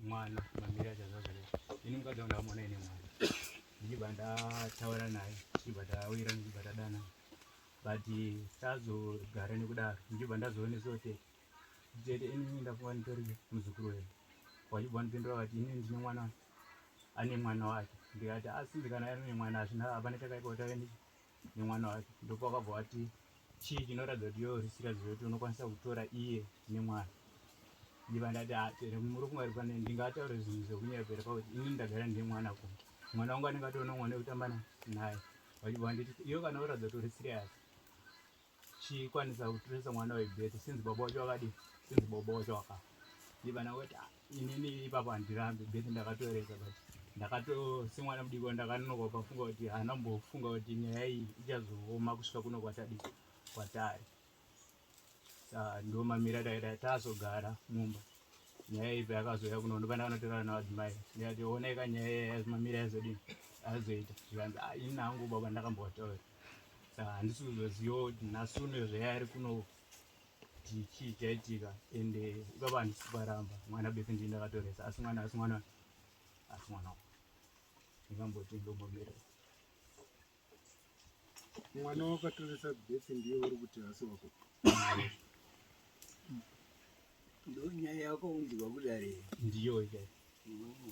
mwana mamira chazazvare ini mukadzi wangu ndamona ine mwana ndichibva ndataura naye ndichibva tawira ndichibva tadana but tazogara nekudaro ndichibva ndazoonesa kuti tete ini ndafunga nditori muzukuru wedu wachibva ndipindura vati ini ndine mwana ane mwana wake ndikati asi ndikana ari nemwana hazvina hapana chakaipa kuti ave nemwana wake ndopakabva wati chii chinoratidza kuti yoo zvisikazi zvekuti unokwanisa kutora iye nemwana ndiva ndati ah, muri kungari pane ndingataure zvinhu zvekunyepera pakuti ini ndagara ndine mwana ku mwana wangu anenge atoona mwana wekutamba naye vachibva nditi iyo kana uratidza kuti uri siriyasi chikwanisa kutunisa mwana webete sinzi baba wacho wakadi sinzi baba wacho waka ndibana kuti ah, inini ipapo handirambi bete ndakatoreza but ndakato semwana mudiko ndakanonoka pafunga kuti hana mbofunga kuti nyaya iyi ichazooma kusvika kuno kwatadii kwatari Ah, ndo mamira taida tazogara mumba nyaya ipi akazoya kuno ndopanda kanotorana navadzimai ndikati oneka nyaya yaya mamira yazodini azoita zvikanzi ah, ini nangu baba ndakambotaura handisi kuzoziva kuti nhasi uno zveya ari kuno chii chaitika ende ikapa handisi kuparamba mwana bese ndii ndakatoresa asi mwana asi mwana asi mwana ndingamboti ndombomira mwana wakatoresa bese ndiye uri kuti hasi wako ndo nyaya yako unzwa kudare ndiyo ikai mm.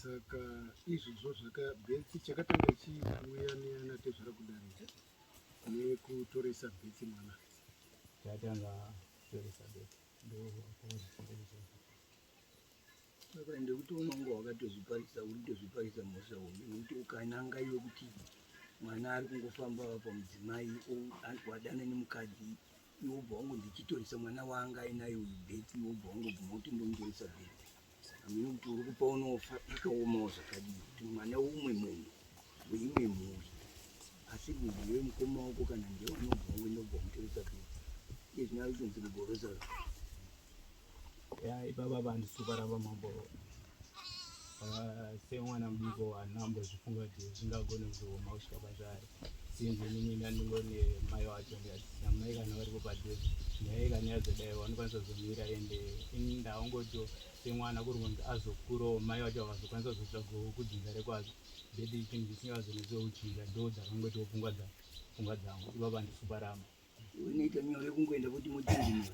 Saka izvozvo zvakabetsi chakatanga chiuya neana tezvara kudarika nekutoresa betsi mwana chatanga kutoresa betsi saka ende kuti unonga wakatozviparisa uritozviparisa mhosva hombe nekuti ukananga iwe kuti mwana ari kungofamba pamudzimai wadana nemukadzi iwe ubva wangondichitoresa mwana wanga ainaye uyu beti iwe ubva wangobvuma kuti ndomutoresa beti amene kuti uri kupa unofa zvakaomawo zvakadii kuti mwana umwe munhu weimwe mhuri asi munhu iwe mukoma wako kana ndewanobva wangoenda ubva wamutoresa beti iye zvinoa kutonzi kugorosa ya ipapa vanhu suparava mambo ah, semwana mudiko vanhu ambozvifunga kuti zvingagone kuzooma kusvika pazvari sinzi inini ndandingone mai wacho ndikasina mai kana varipo padhuze nyaya kana yazodai vanokwanisa kuzomira ende ini ndaongotiwo semwana kuri kunzi azokurawo mai wacho vakazokwanisa kuzotsvagawo kudzinza rekwazo ndeti chinhu chisingazonetsi kuchinja ndo dzakangotiwo pfungwa dzangu pfungwa dzangu ipapa ndisuparama Unoita nyore kungoenda kuti mutini.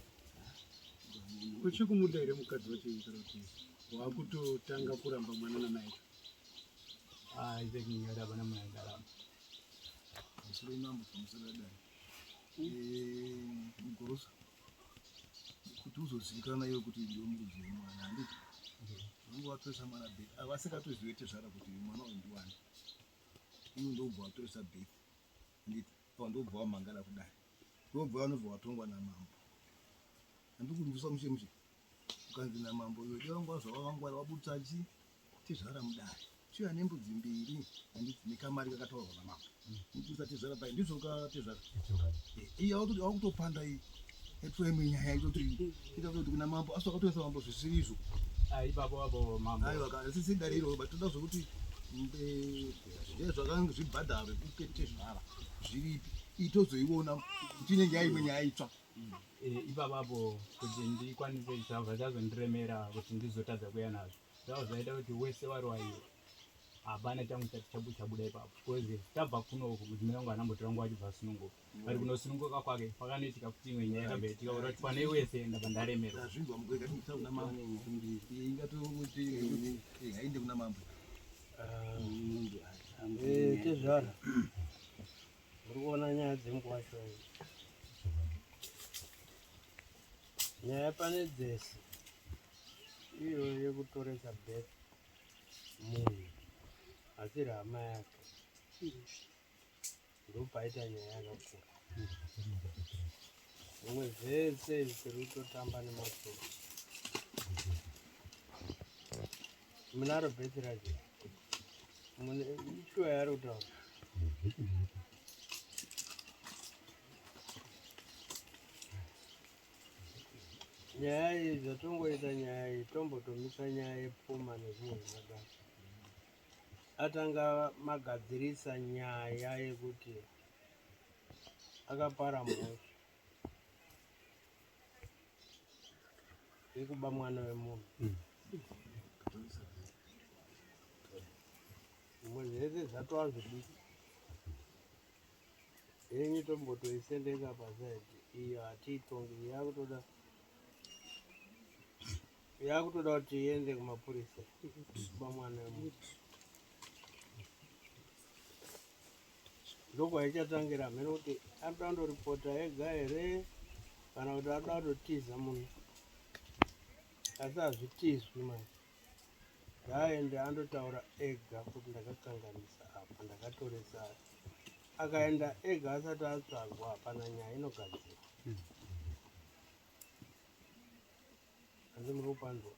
Uchikumuda here mukadzi wacho kuti wakutotanga kuramba mwana namai? Ah, ibe kinyora bana mwana ndalama. Musoro mambo pamusoro dai. Eh, mgorosa. Kuti uzozivikana iwe kuti ndiwe mbuzi wemwana handiti? Vangu watoresa mwana beti. Avasingatozive tezvara kuti mwana uyu ndiwani. Iwe ndobva watoresa beti. Handiti? Apa ndobva wamhangara kudai. Ndobva wanobva watongwa namambo. Andikunzwisa mushe mushe. Ukanzi namambo iwe dai wanga wazvawavangwara wabudisa chi tezvara mudare. Chiya nembudzi mbiri handiti nekamari kakataurwa namambo. Ndibudisa tezvara pai ndizvoka tezvara. Iya wakutopanda iyi. Yatova imwe nyaya yacho kuti ita kuti kuna mambo asi wakatoisa mambo zvisiri izvo. Ah ipapo apo mambo. Aiwa ka sisi dariro but toda zvekuti zvakanga zvibhadharo kukete zvara zviripi itozoiona kuti inenge yaimwe nyaya itsva eh, ipapa apo kuti ndikwanise zvavo zvazondiremera kuti ndizotadza kuya nazvo zvavo zvaita kuti wese wari waiwe hapana changu chati chabuda ipapo bcause tabva kuno mudzimai wangu anambotirangwa achibva sununguka ari kunosununguka kwake kwakanoitika kuti imwe nyaya yakabva itika urati pane wese enda pandaremerwa azvinzwa mukwega kuti mutauna mambo kumbiri ingatomuti hainde kuna mambo tezvara uri kuona nyaya dzemukuva shoni nyaya pane dzese iyo yekutoresa bet munhu asiri hama yake ndopaita nyaya yakakura zvimwe zvese zvisiri kutotamba nemasoro munaro bheti raje ishuwa yari kutaura nyaya iyi zvatongoita nyaya iyi tombotomisa nyaya yepfuma nezvimwe zvakadaro atanga magadzirisa nyaya yekuti akapara mhosva yekuba mwana wemunhu mm. zvimwe zvese zvatova zvidiki henyu tombotoisendeka pasaidi iyo hatiitongi yakutoda yakutoda kuti iende kumapurisa kuba mwana wemuntu ndokwaichatangira hameno kuti anoda kundoripota ega here kana kuti anoda kutotiza munhu asi hazvitizwi manje ngaaende andotaura ega kuti ndakakanganisa apa ndakatoresa akaenda ega asati atsvagwa hapana nyaya inogadzirwa Hanzi muri kupanzwa.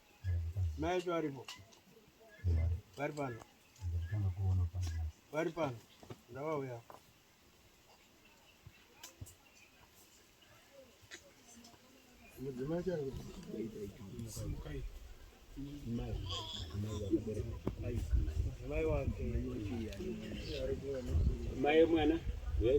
Mai acho varipo. Vari pano. Vari pano. Ndavauya. Mudzimai chari. Simukai. Mai. Mai. Mai wake. Mai mwana. Mai.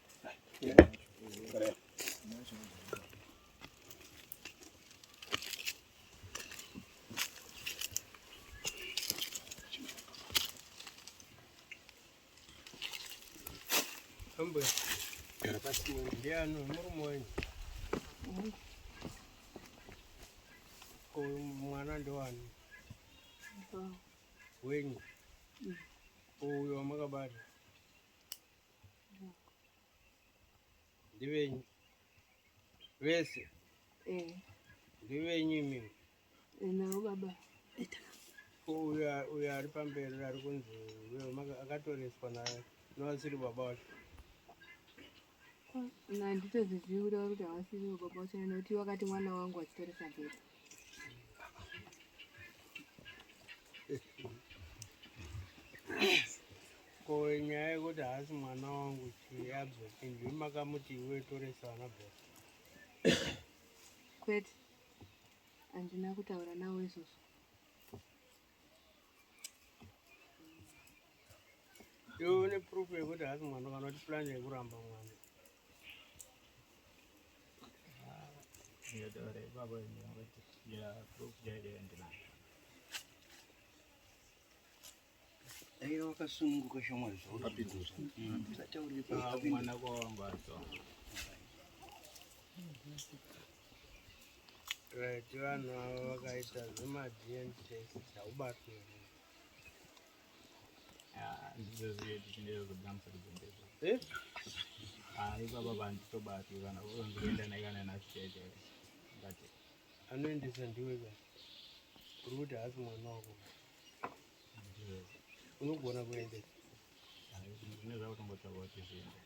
Ambuya. Basi mwende ano murume wenyu. Ko mwana ndowani? Wenyu. Uyo wamakabata. ndivenyu vese eh. ndivenyu imimi eh, navo baba uyo uyo ari pamberi ari kunzi uyo akatoreswa naye novasiri baba wacho handitoziviwi kuti havasiri baba wacho nekuti wakati mwana wangu achitoresa bhebha nyaya yekuti haasi mwana wangu chii abzotinzwi makamuti iwe toresa vana bhos kwete handina kutaura nawo izvozvo Iwe une proof yekuti hasi mwana kana kuti plan yekuramba mwana. Ndiyadore baba nyanga ya proof jaje ndina. Ayo wakasununguka shoma zvo. Apidura. Tataurira mwana kwa wangu adzo. Right, vanhu ava vakaita zvema DNA test haubatwe. Ah, ndizvo zviye tichindero kudamsa kuzendezvo. Eh? Ah, ipapa vanhu tobati kana unoenda naye kana nasiteje. But anoendesa ndiwe ka. Uri kuti hasi mwana wako. Unogona kuendesa. Ah, ndizvo zvakutombotaura kuti zviende.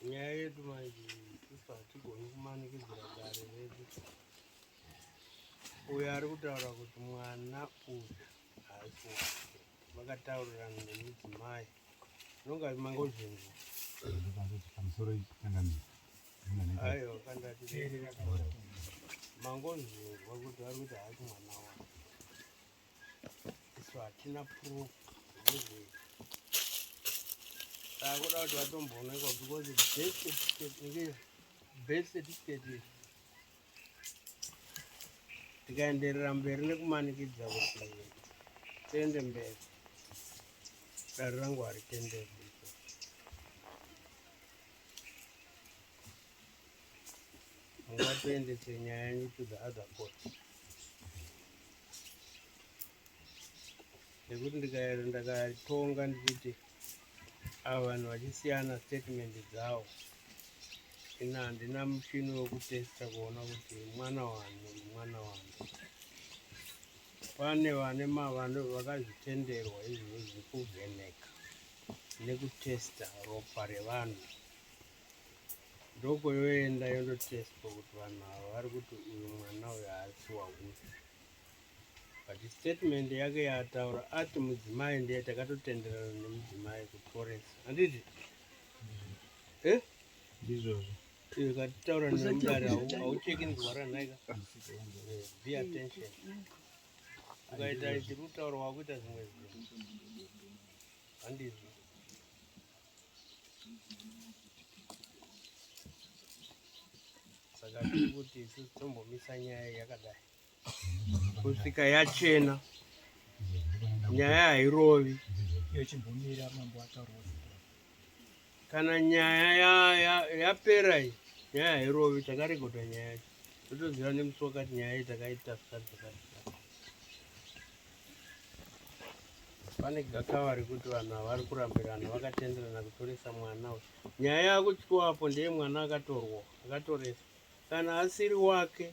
nyaya yedu manje sisi hatigoni kumanikidzira gare redu uyo ari kutaura kuti mwana uyu haasi wake vakataurirana nemudzimai zvinonga mangozvinzwa pamusoro itangamira aiwa kandati mangozvinzwa kuti ari kuti haasi mwana wake isu hatina proof akuda kuti vatomboonekwa because birth certificate inge birth certificate iri tikaenderera mberi nekumanikidza kuti tiende mberi dare rangu haritenderi mungatoendese nyaya yenyu to the other court nekuti ndikaera ndakatonga ndichiti ava vanhu vachisiyana statement dzawo ina handina muchini wekutesta kuona kuti mwana wani mwana wani pane vane mavano vakazvitenderwa izvozvi kuvheneka nekutesta ropa revanhu ndoko yoenda yondotestwa kuti vanhu ava vari kuti uyu mwana uyu haasi wauyu but statement yake yaataura ati mudzimai ndiye takatotenderana nemudzimai kuporesa handiti e eh? ndizvozvo iyo katitaura nemudare haucheki nzwara nhaika eh, be attention ukaita ichiri kutaura wakuita zvimwe zvinhu handizvo saka tiri kuti isusu tombomisa nyaya yakadai kusvika yachena nyaya hairovi yochimbomira mambo ataurwa kana nyaya yapera iyi nyaya hairovi takarekodha nyaya yacho totoziva nemusi wakati nyaya iyi takaita zvikati zvakati pane gakava rekuti vanhu havari kurambirana vakatenderana kutoresa mwana uyu nyaya yakutywapo ndeye mwana akatorwa akatoresa kana asiri wake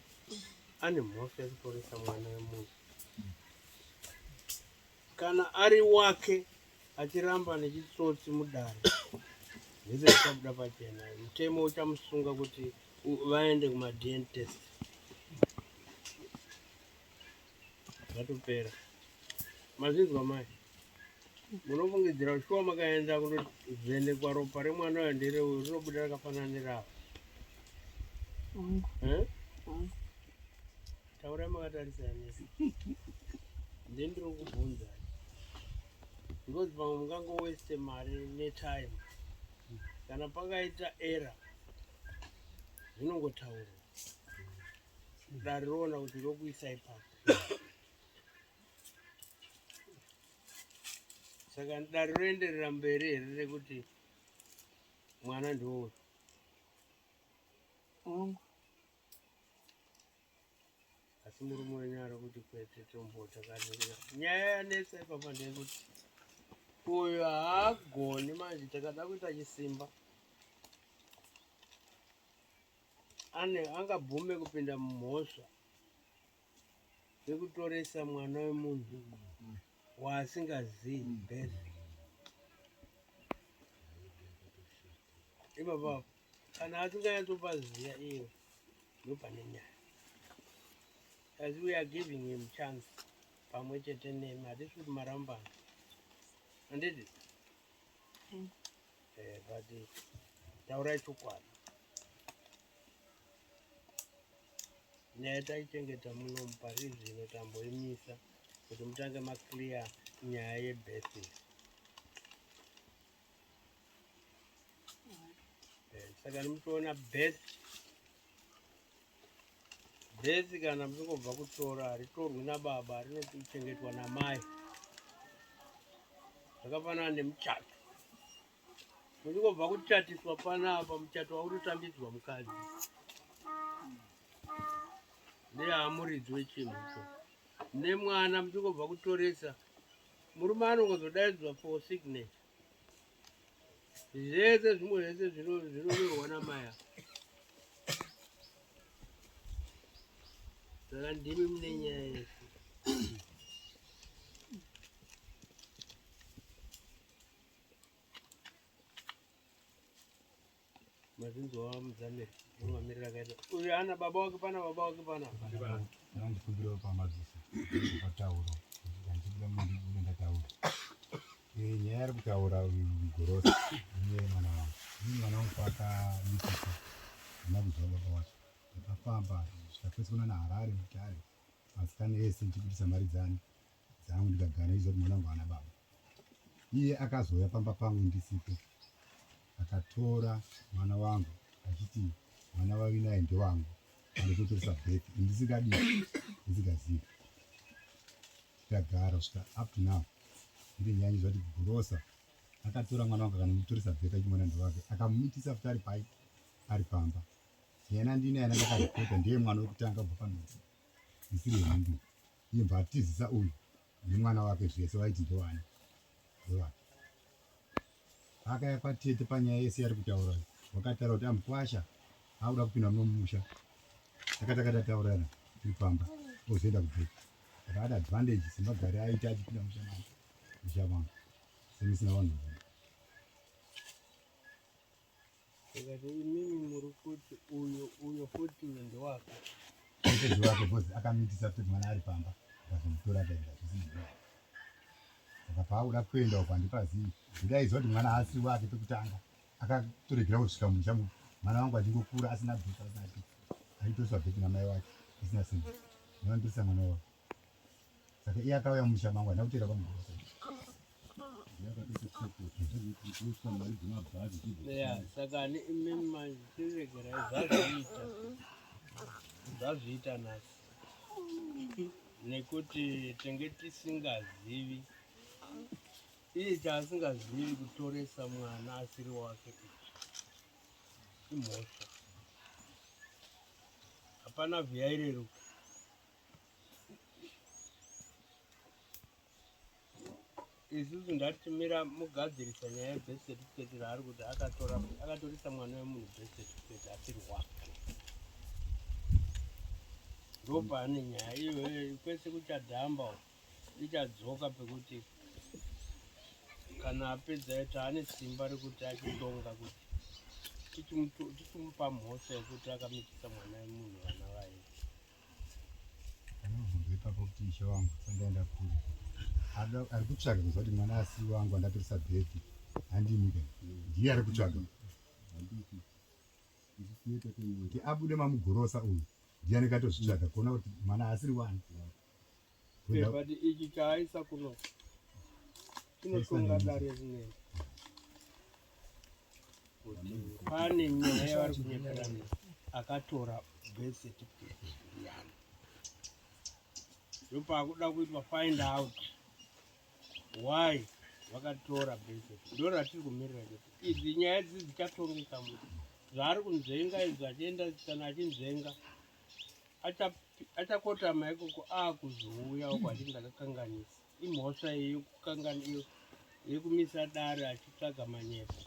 ane mhosva yekutoresa mwana wemunhu kana ari wake achiramba nechitsotsi mudare zvese zvichabuda pachena mutemo uchamusunga kuti vaende kumadn test zvatopera mazvinzwa mai munofungidzira kuti shuwa makaenda kunovhenekwa ropa remwana uyo ndereuyo rinobuda rakafanana neravo eh? taurai makatarisa nese ndi ndiri kubvunza because pamwe mungango waste mari netime kana pakaita era zvinongotaurwa ndariona kuti ndokuisa ipapo saka dare roenderera mberi here rekuti mwana ndiwoyo ongo asi murume wenyu ari kuti kwete tombota kanira nyaya yanetsa ipapa ndeyekuti uyo haagoni manje takada kuita chisimba ane angabvume kupinda mumhosva yekutoresa mwana wemunhu waasingazivi birth ipapa kana asinganyatsopa ziya iyo ndopane nyaya as we are giving him chance pamwe chete nemi hatisi kuti marambana handiti mm. Eh, but eh, taurai chokwadi nyaya taichengeta muno pari zvino tamboimisa kuti mutange maclear nyaya yebirthing eh, saka nimutoona birth Bhezi kana mungobva kutora haritorwi nababa, rinochengetwa namai. Zvakafanana nemuchato, muchingobva kuchatiswa panapa, muchato wautotambidzwa mukadzi neamuridzi wechinhu icho nemwana muchingobva kutoresa murume anongozodaidzwa for signature zvese zvimwe zvese zvinonyorwa namaya saka ndimi mune nyaya yese mazinzwa mudzamiri unomamirira kaita uyu ana baba wake pana baba wake pana ndikumbira pamadzisa patauro ndikuda mundibude ndataura eh, nyaya ari kutaura uyu mugorosi ine mwana wangu ini mwana wangu paakamitisa ana kuziva baba wacho ndakafamba zvikapesi kuna naharare mutare masikana ese ndichibudisa mari dzani dzangu ndikagana iziva kuti mwana wangu ana baba Iye akazouya pamba pangu ndisipo, akatora mwana wangu achiti mwana wavi naye ndewangu, anototoresa birth ndisingadii ndisingazivi. Tikagara kusvika up to now iri nyanyi zvati gurosa akatora mwana wangu akanonditoresa birth achimwana ndewake akamumitisa futi ari pai ari pamba yena ndine yana ndakarekota ndiye mwana wekutanga kubva panoa ndisiri hembi Imbva atizisa uyu nemwana wake zvese vaiti ndovani ndovani akaya kwatete panyaya yese yari kutaura wakataura kuti amukwasha akuda kupinda munomusha akatakatataurana tiri pamba ozoenda kubheki akaada advantage semagari aita achipinda mushamana mushamana semisina vanhu Ndikati imimi muri kuti uyo uyo futi uyo ndewako. Mukadzi wake because akamitisa kuti mwana ari pamba akazomutora akaenda zvisinei. Saka paakuda kuenda uko handipazivi. Ndaiziva kuti mwana haasi wake pekutanga. Akatoregera kusvika musha mu- mwana wangu achingokura asina bhuku asina chii. Aitoswa bheki namai wake isina simba. Ndinondisa mwana wavo. Saka iye akauya mumusha mangu handina kuteera pamurosa. Yeah, saka ni imimi manje tiregera zvazviita zvazviita nhasi nekuti tenge tisingazivi iye chaasingazivi kutoresa mwana asiri wake imhosva hapana vhiyaireruka isusu ndatimira mugadzirisa nyaya yebirth certificate raari kuti akatora akatorisa mwana wemunhu birth certificate asiri wake ndopaane nyaya iyo kwese kuchadhamba ichadzoka pekuti kana apedza ita ane simba rekuti achitonga kuti tichimupa mhosva yekuti akamitisa mwana wemunhu vana vaye anobvunza ipapo kuti ishe wangu sandaenda kure ari kutsvaga kuziva kuti mwana asi wangu andatorisa bhepi handimika ndiye ari kutsvaga kuti abude mamugorosa uyu ndiye anenge atozvitsvaga kuona kuti mwana asiri wani But ichi chaaisa kuno chinotonga dare rinei kuti pane nyaya yavari kunyeperana akatora birth certificate yani ndopaakuda kuitwa find out why vakatora birth certificate ndo ratiri kumirira kuti idzi nyaya dzidzi dzichatongeka mu zvaari kunzenga izvo achienda kana achinzenga achakotama acha ikoko akuzouya uko achiti ndakakanganisa imhosva yekukangana yekumisa dare achitsvaga manyepo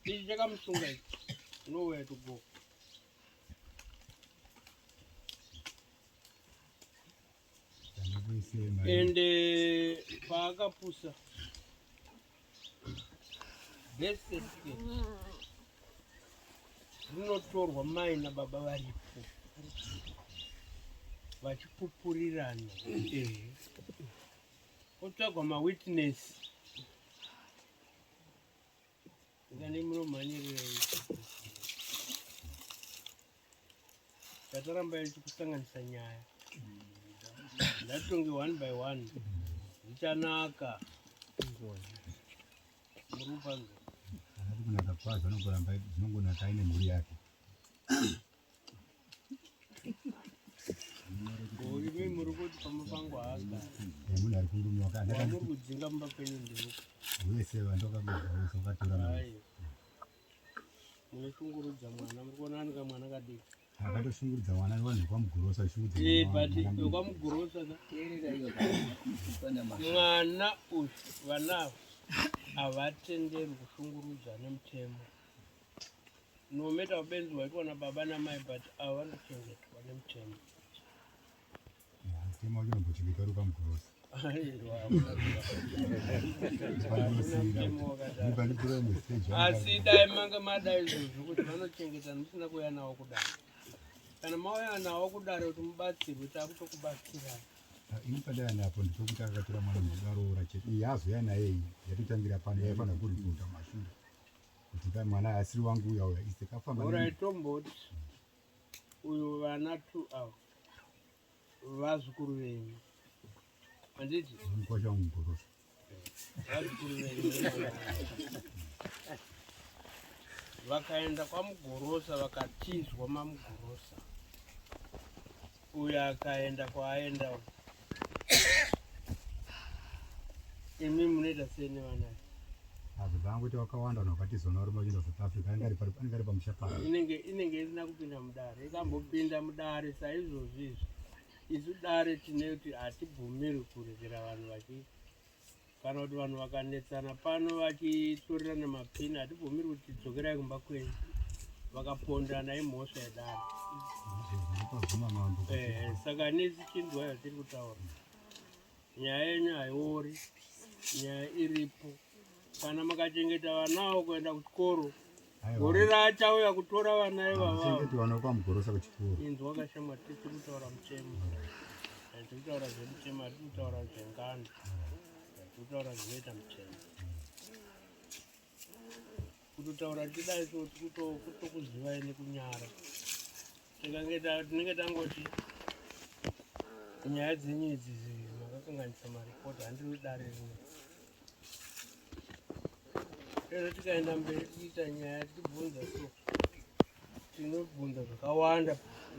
ichi chakamusunga ichi nowhere to go ende paakapusa beseke rinotorwa mai nababa varipo vachipupurirana otsvagwa mawitness Ndani munomhanyirira tataramba ichi kusanganisa nyaya ndatonge one by one zvichanaka murupanzo anati kunaka kwadzo anongoramba dzinongonaka aine mhuri yake munoshungurudza mwana muri kuona anika mwana kadiki akatoshungurudza mwana vanhu vekwamugorosa vekwamugorosa mwana uyu vanavo havatenderwi kushungurudza nemutemo no matter ubenzi hwaitwa nababa namai but ava vari kuchengetwa nemutemo mutemo wacho unombochengeta uri pamugorosi asi dai manga madai izvozvo kuti vanochengeta musina kuuya nawo kudaro kana mauya nawo kudaro kuti mubatsirwe takutokubatsirai ini padai napo ndichokuti akatora mwana mudaroora chete iye azoya naye yatotangira pano yaifanira kuripota mashure Kutika mwana asiri wangu uya uya ise kafamba. Ora itomboti uyo vana tu awo vazukuru venyu anditi mkwasha mugorosa vazukuru venyu vakaenda kwamugorosa vakatizwa mamugorosa Uyu akaenda kwaaenda uyu. Imi munoita sei nevana? Hazvo zvanga kuita wakawanda vanhu vakatizona vari machina South Africa anenge ari pari- anenge ari pamusha pavo. Inenge inenge isina kupinda mudare. Ikambopinda mudare saizvozvi izvi. Isu dare tine kuti hatibvumirwi kuregera vanhu vachi kana kuti vanhu vakanetsana pano vachitorerana mapini hatibvumiri kuti dzokerai kumba kwenyu vakapondana imhosva yadaro eh, saka nesi chinzwa yatiri kutaura nyaya yenyu haiori nyaya iripo kana makachengeta vanawo kuenda kuchikoro Gore raachauya kutora vana ivavavana kwamugorosa kuchikoro inzi wakashama tiri kutaura muchemo tiri kutaura zvemuchemo hatiri kutaura zvengano tiri kutaura zvinoita muchemo kutotaura tidayi so tiri kutokuzivai nekunyara tinenge tangoti nyaya dzenyu idzi makakanganisa maripoti handiri dare rimwe ero tikaenda mberi tiita nyaya tibvunza so tinobvunza zvakawanda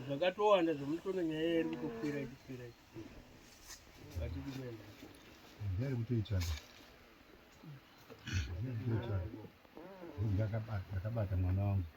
zvakatowanda zvomutoona nyaya iri kutokwira ichikwira ichikwira vatidi kuenda ndari kutoitana ndakabata mwana wangu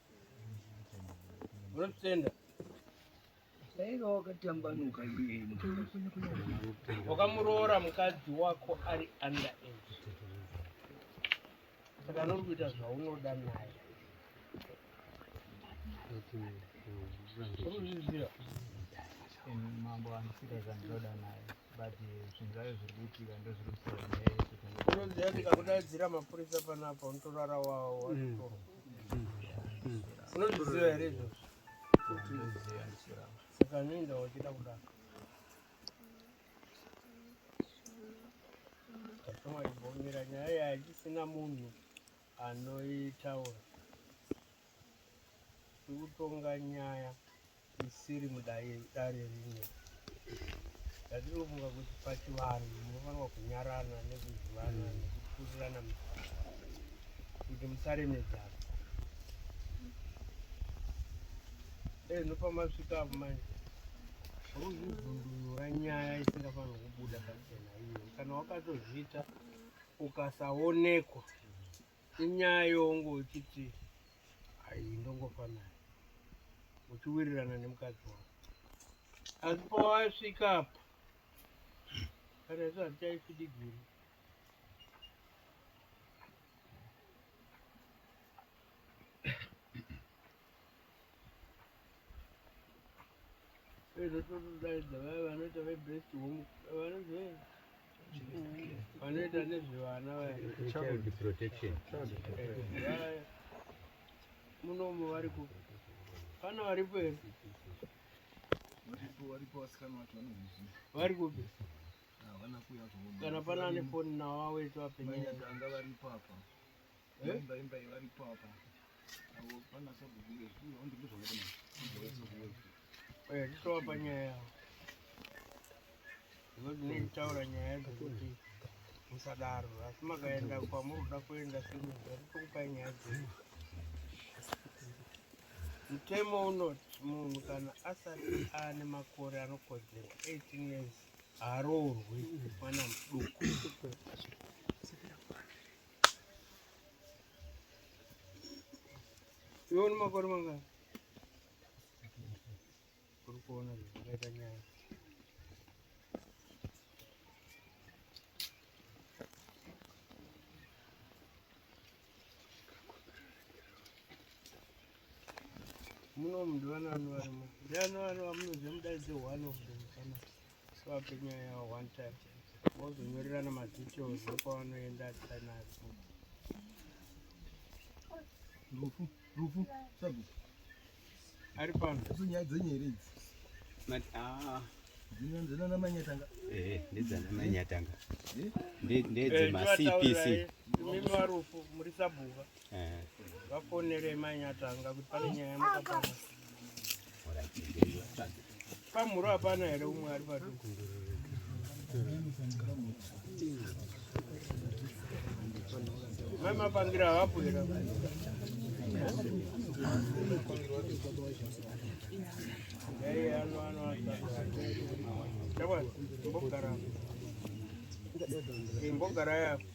Unotenda. Saiva wakatambanuka iye. Wakamuroora mukadzi wako ari under age. Saka nuri kuita zvaunoda naye. Uri kuzviziva. Mambo anosika zvandoda naye. unoziva ndikakudaidzira mapurisa panapa unotorara wawo unozviziva here izvozvo saka noenda wachida kudaro tatomwaibomira nyaya yaichisina munhu anoitaura tikutonga nyaya isiri mudare rimwe yatinofunga kuti pachivanhu munofanirwa kunyarana nekuzivana mm. nekukurirana kuti musaremedzana dai ndopamasvika apo manje hauzvivhundunura nyaya isingafanirwa kubuda pachena iyo kana wakatozviita ukasaonekwa inyaya yongo uchiti ayi ndongofa naye uchiwirirana nemukadzi wako asi pawasvika apa kana izvo hazvichaisi digiri vanotodaidza vaya vanoita vebest home vanonzi vanoita nezvevana vaya munomu vari ku pana varipo here vari kupi kana pana ane foni nawo awetu apenyanga varipo apa ndinotaura nyaya yadzo kuti musadaro asi makaenda kwamuri kuda kuenda sekupai nyaya dzenyu mutemo unoti munhu kana asati ane makore anokodzera 18 years haroorwi mwana muduku Yoni makore mangani? Kuri kuona zvakaita nyaya. Muno mndu vana vano varimo. Ndiani vano vamunoziva mudaidze one of them family. vape nyaya yavo one time vozonyorerana madetails ekwavanoenda tinazo rufu rufu sabu ari pano idzo nyaya dzenyu here idzi ah. dzinana manyatanga ehe ndedzana manyatanga ndedzemacpc imi varufu muri sabhuka vafonere mai nyatanga kuti pane nyaya mukapama pamhuro hapana here umwe ari paduku mai mapangira havapo here imbogara yapo